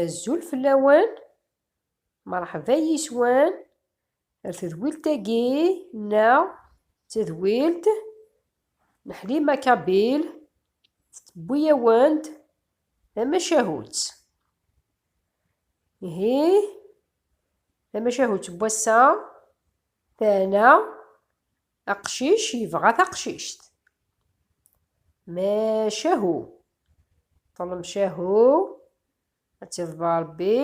Azul fell-awen, merḥba yiswan, ar tedwilt-agi neɣ d tadwilt n Ḥlima Kabil tettewwi-awen-d tamacahut. Ihi tamacahut n wass-a tɛna Aqcic yebɣa taqcict. Macahu. Ṭlem cahu. Ad tiḍba Rebbi.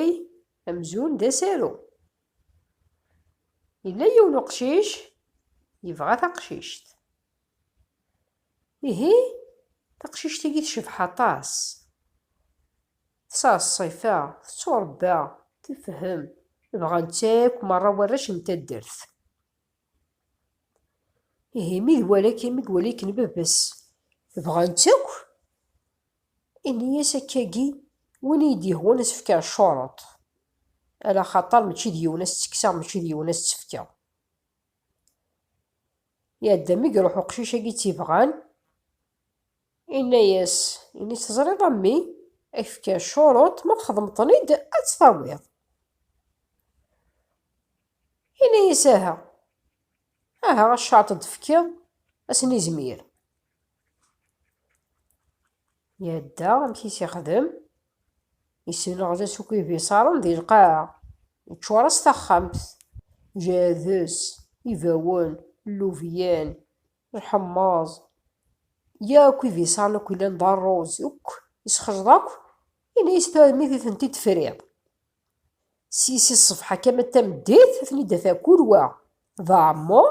Amzun d asaru. Yella yiwen uqcic yebɣa taqcict. Ihi, taqcict-agi tecbeḥ aṭas. Tesɛa ṣṣifa, tetturebba, tefhem, bɣan-tt akk merra warrac n taddart. Ihi mi iwala-k mi iwala-ken baba-s bɣan-tt akk, ini-as akka-agi, win i yi-d-yehwan ad s-fkeɣ ccuruṭ, ala xaṭer mačči d yiwen ad s-ttekkseɣ mačči d yiwen ad s-tt-fkeɣ. Iɛedda mi iruḥ uqcic-agi tt-ibɣan. Inna-yas, ini teẓriḍ a mmi, ad k-fkeɣ ccuruṭ, ma txedmeḍ-ten-id ad tt-tawiḍ. Inna-yas aha, aha a ccuruṭ ad d-fkeɣ, ad sen-izmir. Yadda amek i s-ixdem, yessenɣed-as akk ibiṣaren di lqaɛa, yeččur-as taxxamt, jehd-s, ibawen, llubyan, Lḥemmeẓ, yakk ibiṣan akk yellan d rruz, akk isxejḍ akk, yenna-yas tarmit i tent-id-tefriḍ. Si si ṣṣbeḥ akka ma d tameddit, ad ten-id-af akul wa d aɛemmu,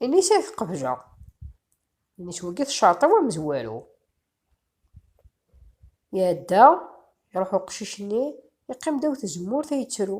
yenna-yas ad t-qebleɣ. Yenna-yas wagi tecreṭ-aw amezwaru. Iɛedda, iruḥ uqcic-nni, yeqqim ddaw tezemmurt ay yettru.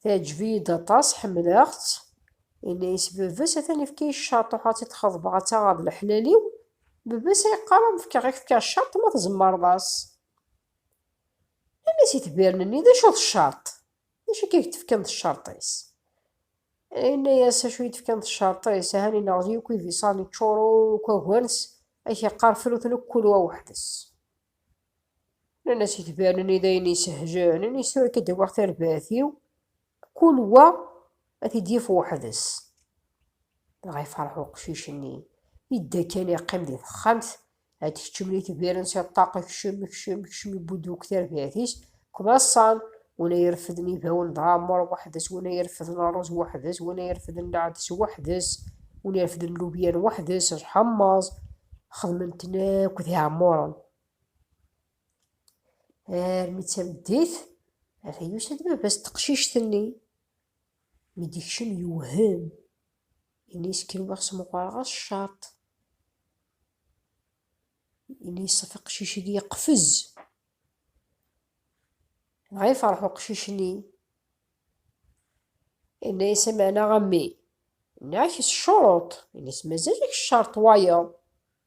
Teɛǧeb-iyi-d aṭas, ḥemmleɣ-tt. Yenna-yas baba-s, atan yefka-yi ccaṭuḥ ad tt-id-xeḍbeɣ ad taɣeḍ leḥlal-iw. Baba-s a yeqqar ad m-fkeɣ i k-fkeɣ ccaṭ ma tzemreḍ-as. Yenna-yas itbiren-nni, d acu d ccaṭ? D acu akka i k-d-fkan d ccaṭ-is? Yenna-yas acu i d-fkan d ccaṭ-is, ahan ineɣzi akk ibiṣan, iččur akk agens, a k-yeqqar fru-ten akk kul wa weḥd-s. Nnan-as itbaren-nni d ayen isehjaren, nnan-as tura akka d-awiɣ tarbaɛt-iw, kul wa ad t-id-yaf weḥd-s. Dɣa ifreḥ uqcic-nni, idda kan iqqim di texxamt, ad d-keččmen itbaren si ṭṭaq, ikcem, ikcem, ikcem, ibudd wakk tarbaɛt-is, kmaṣan, win ay irefden ibawen d ɛemmer weḥd-s, win ay irefden ṛṛuz weḥd-s, win ay irefden lɛedes weḥd-s, win irefden lubyan weḥd-s, lḥemmeẓ, xedmen-ten akk d iɛemmuren. armi d tameddit ata yusa-d baba-s teqcict-nni mi d-ikcem yewhem ini-s kenwiɣ smeqreɣ-as ccaṭ ini yeṣṣef aqcic-agi yeqfez dɣa yefreḥ uqcic-nni ini-as ameɛna a mmi ini-ak s ccuruṭ ini-as mazal-ak ccaṛṭ wayeḍ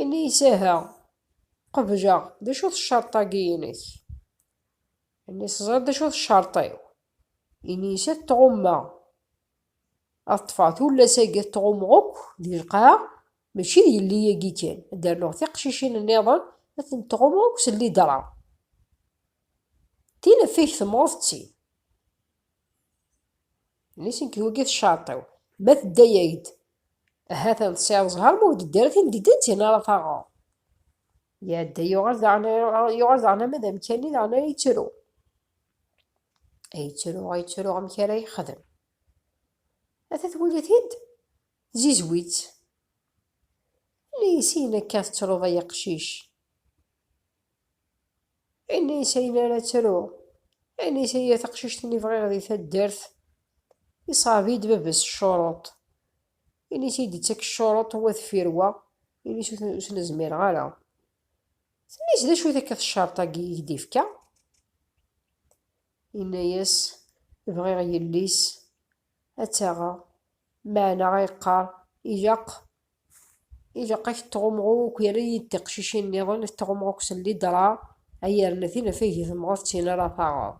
Ini-as aha, qebleɣ, d acu-t ccerṭ-agi-inek? Ini-as teẓriḍ d acu-t ccerṭ-iw. Ini-as ad t-tɣummeɣ, ad ṭṭfeɣ tullas-agi ad t-tɣummeɣ akk di lqaɛa, mačči d yelli-agi kan, ad d-rnuɣ tiqcicin-nniḍen ad tent-tɣummeɣ akk s llidra. Tin ɣef i k-temɣeḍ d tin. Nisen kewgi teccerṭ-iw. Ma tedda-yak-d, ahat ad tesɛiḍ ẓher ma ur d-teddi ara tin d-ddant-in ara taɣeḍ. Iɛedda yuɣal daɣen yuɣal daɣen ama d amkan-nni daɣen ara yettru. Ay yettru, ay yettru amek ara yexdem. Ata twala-t-id, zizwi-tt. Nnisin akka tettruḍ ay aqcic. Inisi ayen ara ttruɣ. Inisi ay a taqcict-nni bɣiɣ di taddart. Iṣɛeb-iyi-d baba-s ccuruṭ. Inisi ay d-yettak ccuruṭ wa deffir wa. Inisi ur ten-zmireɣ ara. Tenna-as, D acu-t akka teccerṭ-agi i k-d-yefka? Yenna-as, Bɣiɣ yelli-s ad taɣeɣ. Meɛna a yeqqar, ilaq, ilaq ad k-tɣumɣu akk yerra-yi-d tiqcicin nniḍen ad k-tɣumɣu akk s llidra, ad yerna tinafag i temɣeḍ d tin ara taɣeḍ.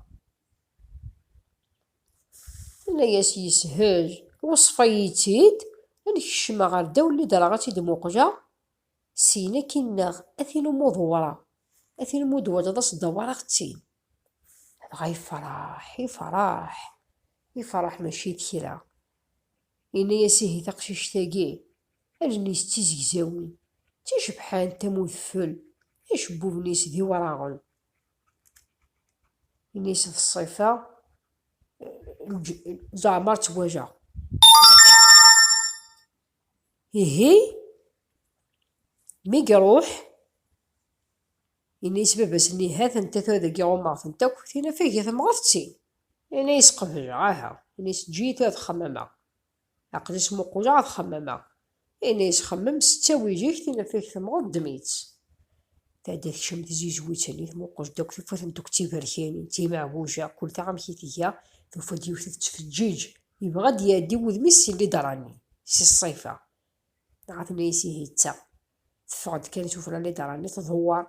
Yenna-yas yeshel, weṣṣef-iyi-tt-id ad n-kecmeɣ ɣer ddaw llidra ad tt-id-muqleɣ, Syin akkin neɣ a tin umi ur dewwreɣ, a tin umi ur d-twalaḍ ad s-dewwreɣ d tin. Dɣa yefreḥ, yefreḥ, yefreḥ mačči d kra. Yenna-as ihi taqcict-agi, allen-is d tizegzawin, d ticebḥant am udfel, acebbuben-is d iwraɣen. Yenna-as d ṣṣifa n leǧ, leɛmer ttwajeɣ. Ihi, mi iruḥ, yenna-yas baba-s-nni, Ha-tent-a tura dagi ɣummeɣ-tent akk, tinafag i temɣeḍ d tin. Yenna-yas qebleɣ, aha, yenna-yas eǧǧ-iyi tura ad xemmemeɣ, aql-i smuquleɣ ad xemmemeɣ. Yenna-yas xemmem s ttawil-ik, tinafag temɣeḍ ddem-itt. Tadda tekcem tzizwit-nni, tmuqel-d akk, tufa-t n deg tiberkanin, timeɛbuja, kul ta amek i tga, tufa-d yiwet tettfeǧǧiǧ, yebɣa ad d-iɛeddi wudem-is si lidra-nni, si ṣṣifa, dɣa tenna-yas ihi d ta, teffeɣ-d kan tufra lidra-nni, tḍewwer,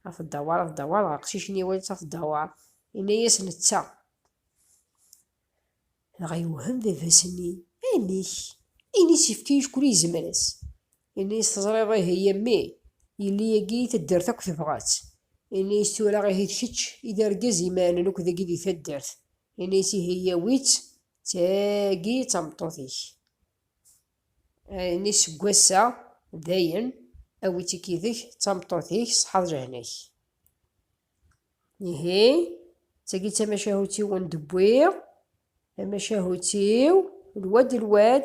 a tdawar, a tdawar, dɣa aqcic-nni iwala-tt a tdawar, yenna-yas netta. Dɣa yewhem baba-s-nni, Amek? Ini-s yefka acku ur yezmir as. Ini-as teẓriḍ ihi a mmi, yelli agi i taddart akk tebɣa-tt. Ini-as tura ihi d kečč i d argaz imaɛnen akk dagi di taddart. Ini-as ihi yawi-tt, d tagi i d tameṭṭut-ik. Ini-as seg wass-a dayen awi-tt-ik yid-k d tameṭṭut-ik, ṣeḥḥa d lehna-k. ihi tagi d tamacahut-iw ur d-wwiɣ tamacahut-iw lwad lwad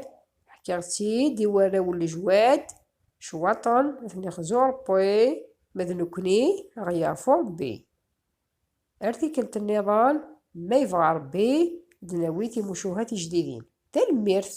ḥkiɣ-tt-id i warraw n lejwad cwaṭen ad ten-ixzu Ṛebbi ma d nekkni ad ɣ-yeɛfu Ṛebbi ar tikkelt nniḍen ma yebɣa Ṛebbi ad d-nawi timucuha tijdidin tanemmirt